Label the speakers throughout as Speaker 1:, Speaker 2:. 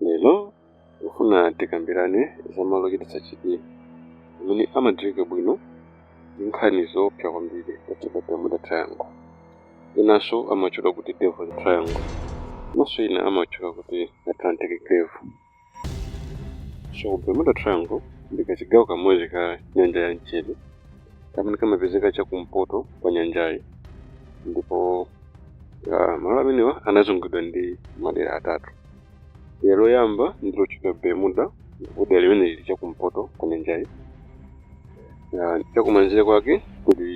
Speaker 1: Lero ndikufuna tikambirane za malo ochititsa chidwi amene amadziwika bwino ndi nkhani zoopsa kwambiri otchedwa Bermuda Triangle. Enanso amawatchula kuti Devil's Triangle komanso ena amawatchula kuti Atlantic Cave. So Bermuda Triangle ndi kachigawo kamodzi ka nyanja ya mchere kamene kamapezeka chakumpoto kwa nyanjayi ndipo ah, malo amenewa anazungulidwa ndi madera atatu. Dera loyamba ndi lotchedwa Bermuda ndipo dera limeneli lili chakumpoto kwa nyanjayi. Chakumanzere kwake kuli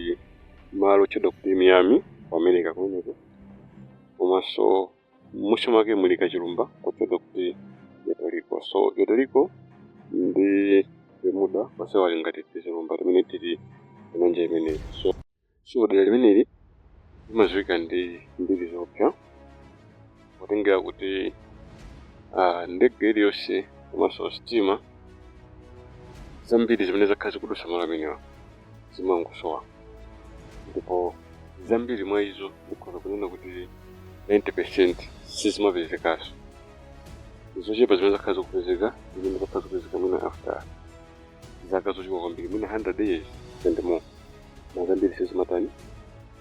Speaker 1: malo otchedwa kuti Miami ku America kumeneko. Komanso m'munsi mwake muli kachilumba kotchedwa kuti Puerto Rico. So Puerto Rico ndi Bermuda onsewa ali ngati tizilumba timene tili pa nyanja imeneyi. So So dera limeneli limadziwika ndi mbiri zoopsa potengera kuti ah, ndege iliyonse komanso sitima zambiri zimene zakhala zikudutsa malo amenewa zimangosowa ndipo zambiri mwa izo ndikhoza kunena kuti 90 percent sizimapezekanso zochepa zimene zakhala zikupezeka zimene zakhala zikupezeka mwina after zaka zochuluka kwambiri mwina 100 years and more koma zambiri sizimatani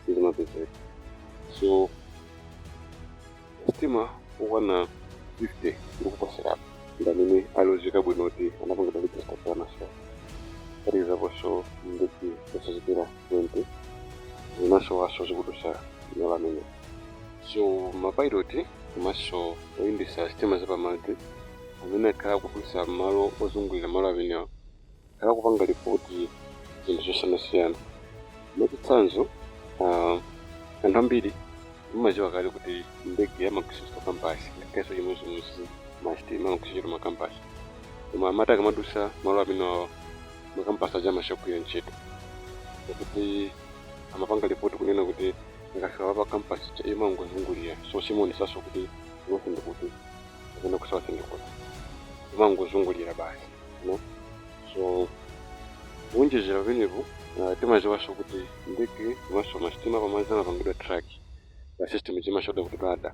Speaker 1: sizimapezeka so masitima okwana 50 ndikuposerapo ndamene akudziwika bwino kuti anapangidwa register anasowa kuphatikizaponso ndege zosachepera 20 zinasowanso zikudutsa malo amenewa so mapiloti komanso oyendetsa sitima zapamadzi amene akhala akudutsa m'malo ozungulira malo amenewa akhala akupanga lipoti zinthu zosiyanasiyana. Mwachitsanzo, anthu ambiri amadziwa kale kuti mu ndege amagwiritsa ntchito kampasi, ngakhalenso chimodzimodzi masitima amagwiritsa ntchito makampasi. Koma amati akamadutsa malo amenewawa, makampasi aja amasiya kugwira ntchito. Akuti amapanga lipoti kunena kuti akafika apa kampasi ija imangozungulira, so siimaonetsanso kuti ku north ndi kuti. kapena ku south ndi kuti imangozungulira basi so kuwonjezera pamenepo uh, timadziwanso kuti ndege komanso masitima apamadzi amapangidwa track pa system zimatchedwa kuti radar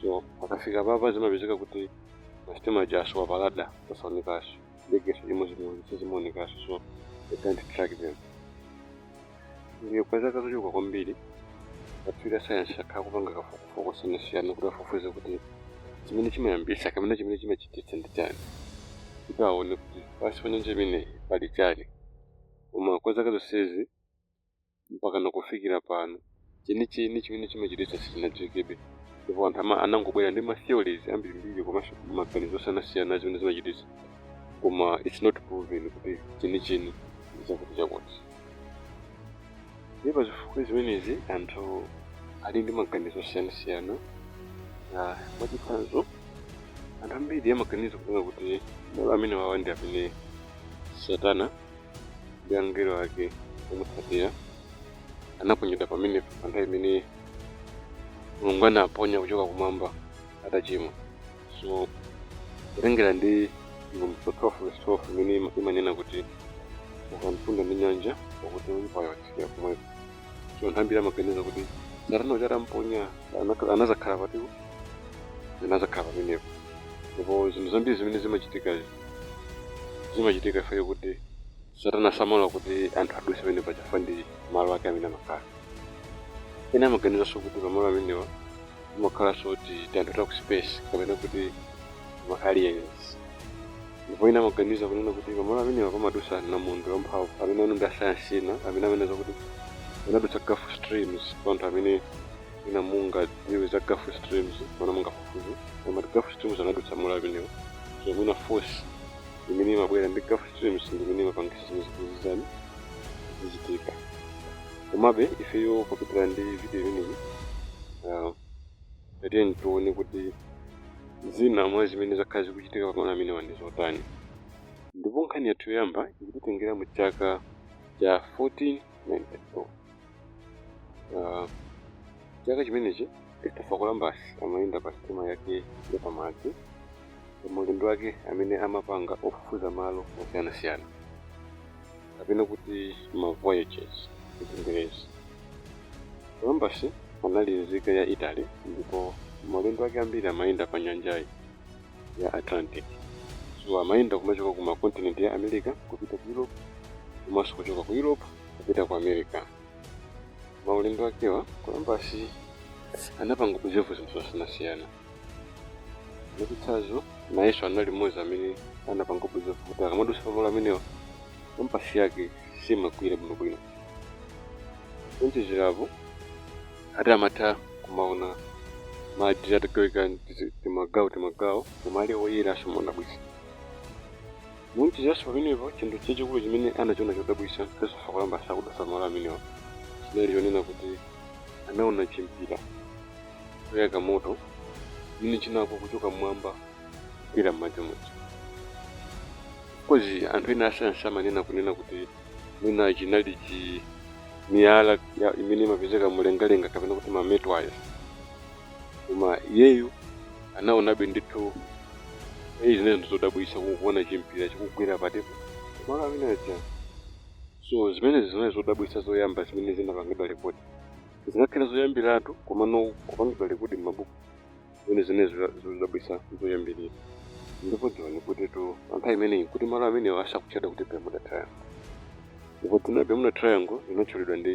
Speaker 1: so akafika apapa zimapezeka kuti masitima aja asowa pa radar osaonekanso ndege chimodzimodzi sizimaonekanso so they can't track them Ndiye kwa zaka zochuluka kwambiri akatswiri asayansi akhala akupanga kafukufuku osiyanasiyana kuti afufuze kuti chimene chimayambitsa kapena chimene chimachititsa ndi chani kuti aone kuti pansi pa nyanja imeneyi pali chani koma kwa zaka zonsezi mpakana kufikira pano chenicheni chimene chimachititsa sichinadziwikebe, ndipo anthu anangobwera ndi ma theories ambirimbiri komanso maganizo osiyanasiyana a zimene zimachititsa koma it's not proven kuti chenicheni ndi chakutichakuti. Ndiye pa zifukwa zimenezi anthu ali ndi maganizo osiyanasiyana mwachitsanzo anthu ambiri amaganiza kunena kuti malo amenewawa ndi amene Satana ndi angelo ake omutsatira anaponyedwa pamenepo pa nthawi imene mulungu anaponya kuchoka kumwamba atachimwa so kutengera ndi chivumbulutso 12 verse 12 imene imanena kuti tsoka mtunda ndi nyanja pakuti woyipayo watsikira kumwepo so anthu ambiri amaganiza kuti satana uja atamponya anazakhala pati anazakhala pamenepo ndipo zinthu zambiri zimene zimachitikazi Zimachitika chifukwa chakuti Satana samalola kuti anthu adutse pamenepa chifukwa ndi malo ake amene amakhala. Ena amaganizanso kuti pamalo amenewa pamakhalanso tianthu ta ku space kapena kuti ma aliens. Ndipo ena amaganiza kunena kuti pamalo amenewa pamadutsa namondwe wamphamvu amene awa ndi asayansi ena amene amanena zakuti amadutsa Gulf Streams kwa anthu amene mwina mungadziwe za gulf streams mwina mungafufuze koma ati gulf streams amadutsa malo amenewo so mwina force imene imabwera ndi gulf streams ndi imene imapangisa zimenezi kuti zizichitika komabe ifeyo popitira ndi video imeneyi ah, tatiyeni tione kuti zina mwa zimene zakhala zikuchitika pamalo amenewa ndi zotani ndipo nkhani yathu yoyamba ikutitengera mu chaka cha 1492 Ah, chaka chimenechi christopher columbus amayenda pa sitima yake yapamadzi pamaulendo ake amene amapanga ofufuza malo osiyanasiyana kapena kuti ma voyages mchingerezi columbus anali nzika ya italy ndipo maulendo ake ambiri amayenda pa nyanjayi ya Atlantic. So amayenda kumachoka ku makontinenti ya America kupita ku Europe komanso kuchoka ku Europe kupita ku America. Maulendo akewa Columbus anapanga observe zinthu zosiyanasiyana. Mwachitsanzo, nayenso anali mmodzi amene anapanga observe kuti akamadusa pamalo amenewa kampasi yake simagwira bwinobwino. kuonjezera apo ati amatha kumaona madzi atagawika tizi- timagawo timagawo koma ali oyera somadabwisa kuonjezeranso pamenepo chinthu chachikulu chimene anachiona chodabwisa christopher columbus akudutsa pamalo amenewa chinali chonena kuti anaona chimpira choyaka moto chimene chinagwa kuchoka mmwamba kugwera m'madzi muja course anthu ena asayansi amanena kunena kuti mwina chinali chimiyala ya- imene imapezeka mulengalenga kapena kuti mametwaya koma iyeyu anaonabe ndithu eyi zimene zinthu zodabwisa kukuona chimpira chikugwera patepo malo amene aja so zimenezi zinali zodabwisa zoyamba zimene zinapangidwa rekodi singakhale zoyambiratu komano kupangidwa rekodi m'mabuku Zimenezi zinali zodabwitsa n'zoyambirira. Ndipo dziwani kutitu pa nthawi imeneyi n'kuti malo amenewa asakutchedwa kuti Bermuda Triangle. Ndipo dzina la Bermuda Triangle linatchulidwa ndi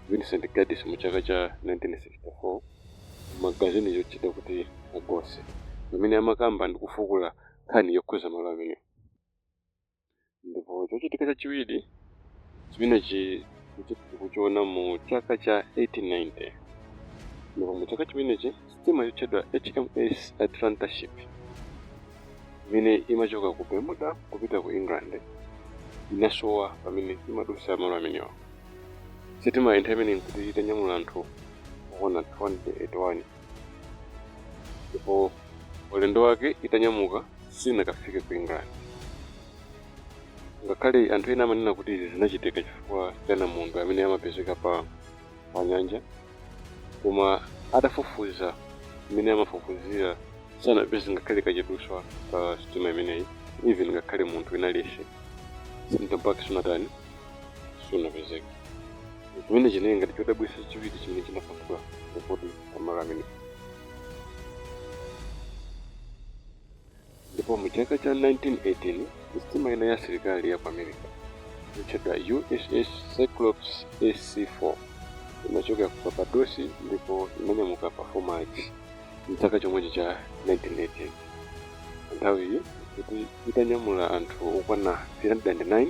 Speaker 1: Vincent Gaddis mu chaka cha 1964 mu magazini yotchedwa kuti Argosy pamene amakamba ndi kufukula nkhani yokhudza malo amenewa. ndipo chochitika chachiwiri chimenechi tikuchiona mu chaka cha 1890 ndipo mu chaka chimenechi sitima yotchedwa hms atlanta ship imene imachoka ku bermuda kupita ku england inasowa pamene imadutsa malo amenewa sitima nthawi imeneyi nkuti itanyamula anthu okwana 281 ndipo ulendo wake itanyamuka sinakafike ku england ngakhale anthu ena amanena kuti izi zinachitika chifukwa cha namondwe amene amapezeka pa pa nyanja koma atafufuza mmene amafufuzira sanapeze ngakhale kachiduswa ka sitima imeneyi even ngakhale munthu in a sense mtembo wake sunatani sunapezeke chimene chinali ngati chodabwitsa chachiwiri chimene chinapangidwa rekodi pa malo amenewa ndipo mu chaka cha 1918 sitima ina ya asilikali ya ku america yotchedwa uss cyclops ac4 inachokera ku barbados ndipo inanyamuka pa 4 march mchaka chomwechi cha 1918 nthawiyi nkuti itanyamula anthu okwana 309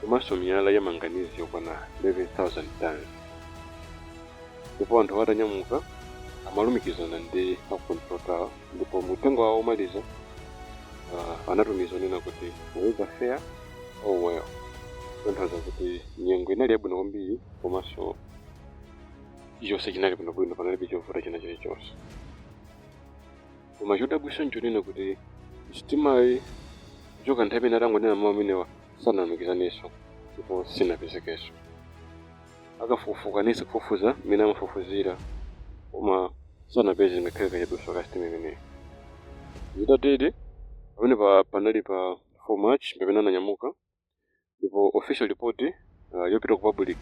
Speaker 1: komanso miyala ya manganizi yokwana 11,000 tons. Ndipo anthu atanyamuka, amalumikizana ndi a ku Control Tower, ndipo uthenga wawo omaliza uh, anatumiza onena kuti weather fair all well, kutanthauza kuti nyengo inali yabwino kwambiri komanso chilichonse chinali bwinobwino, panalibe chovuta china chilichonse. Koma chodabwitsa nchonena kuti sitimayi kuchoka nthawi imene atangonena mawu amenewa sanalumikizaneso ndipo sinapezekeso. A kafukufuku anayesa kufufuza mmene amafufuzira koma sanapeze ngakhale kachiduswa ka sitima imeneyi. Zitatere, pamenepa panali pa 4 March pamene ananyamuka ndipo official report yopita ku public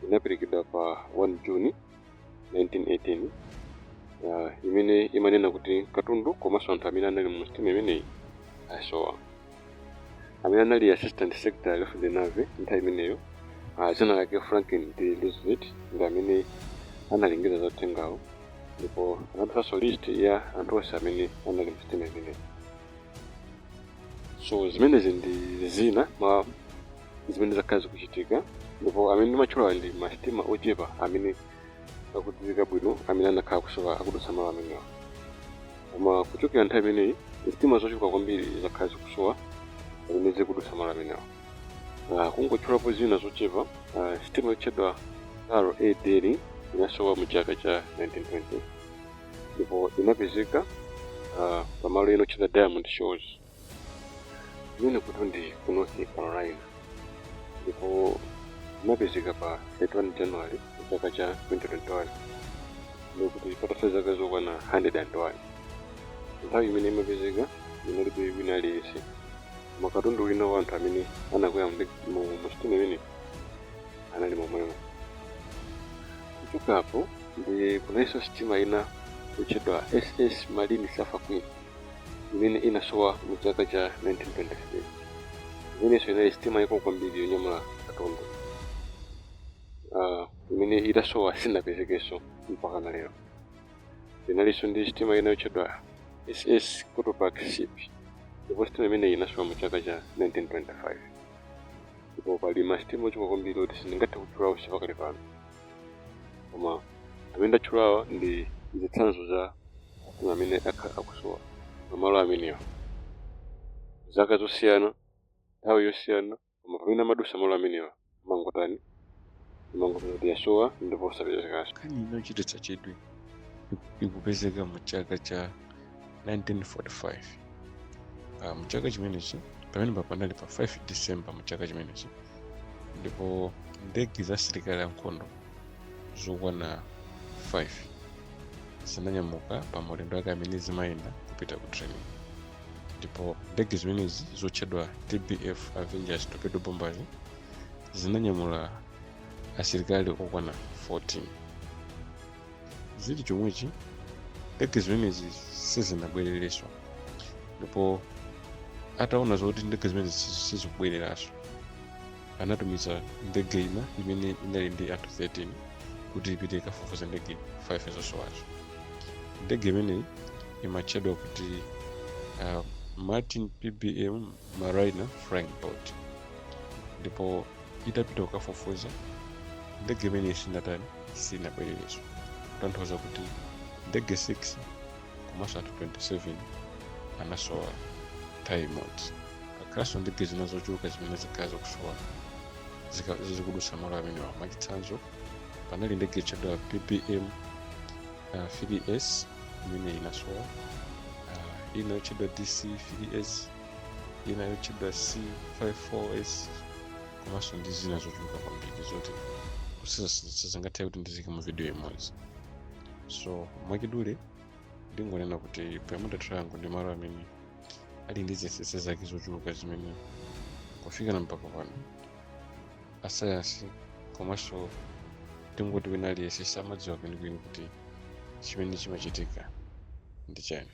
Speaker 1: inaperekedwa pa 1 June. 1918 uh, imene imanena kuti katundu komanso anthu amene anali mu sitima imeneyi asowa amene anali assistant secretary of the navy nthawi imeneyo uh, dzina lake franklin d roosevelt ndi amene analengeza za uthengawo ndipo anapatsanso list ya anthu onse amene anali mu sitima imeneyi so zimenezi ndi zina mwa zimene zakhala zikuchitika ndipo amene ndimatchulawa ndi masitima ochepa amene akudziwika bwino amene anakhala kusowa akudutsa malo amenewa koma kuchokera nthawi imeneyi sitima zochuluka kwambiri zakhala zikusowa zimene zikudutsa malo amenewa Ah, kungotchulapo zina zochepa ah, sitima yotchedwa r a dering inasowa mu chaka cha 1920 ndipo inapezeka ah, pamalo ena otchedwa diamond shores Imene kutu ndi ku North Carolina ndipo inapezeka pa 31 January chaka cha 2021 ndikuti patatha zaka zokwana 101 nthawi imene imapezeka inalibe wina aliyense koma katundu wina wa anthu amene anakwera mu sitima imene anali momwemo kuchokapo ndiye kunalinso sitima ina kutchedwa ss marine sulphur queen imene inasowa mu chaka cha 1923 imenenso inali sitima yaikulu kwambiri yonyamula katundu uh, imene itasowa sinapezekenso mpaka na lero inalinso ndi sitima ina yotchedwa ss cotopaxi ship ndipo sitima imeneyi inasowa mu chaka cha 1925 ndipo pali masitima ochuluka kwambiri oti sindingathe kutchula onse pakali pano koma amene ndatchulawa ndi zitsanzo za masitima amene akhala akusowa pamalo amenewa zaka zosiyana nthawi yosiyana koma pamene amadusa malo amenewa amangotani amangoti yasowa ndipo sapezekanso nkhani inochititsa
Speaker 2: chidwi ikupezeka mu chaka cha 1945 uh, mchaka chimenechi pamene panali pa 5 december mchaka chimenechi ndipo ndege za asilikali ankhondo zokwana 5 zinanyamuka pa maulendo ake amene zimayenda kupita ku training ndipo ndege zimenezi zotchedwa tbf avengers torpedo bombers zinanyamula asilikali okwana 14 zili chomwechi ndege zimenezi sizinabwererenso ndipo ataona zoti ndege zimenezi sizi- sizikubwereranso anatumiza ndege ina imene inali ndi anthu 13 kuti ipite ikafufuza ndege 5 zosowazo ndege imeneyi imatchedwa kuti uh, martin pbm Mariner Flying Boat ndipo itapita kukafufuza ndege imeneyi sinatani sinabwererenso kutanthauza kuti ndege 6 komanso anthu 27 anasowa nthawi imodzi kakhalanso ndege zina zochuluka zimene zakhala zikusowa zika- zikadutsa malo amenewa mwachitsanzo panali ndege yotchedwa ppm uh, 3s imene inasowa uh, ina yotchedwa dc 3s ina yotchedwa c54s komanso ndi zina zochuluka kwambiri zoti sizingathe kuti ndiziike mu video imodzi so mwachidule ndingonena kuti bermuda triangle ndi malo amene ali ndi zinsisi zake zochuluka zimene kufika na mpaka pano asayansi komanso tingoti wina aliyense samadziwa kwenikweni kuti chimene chimachitika ndi chani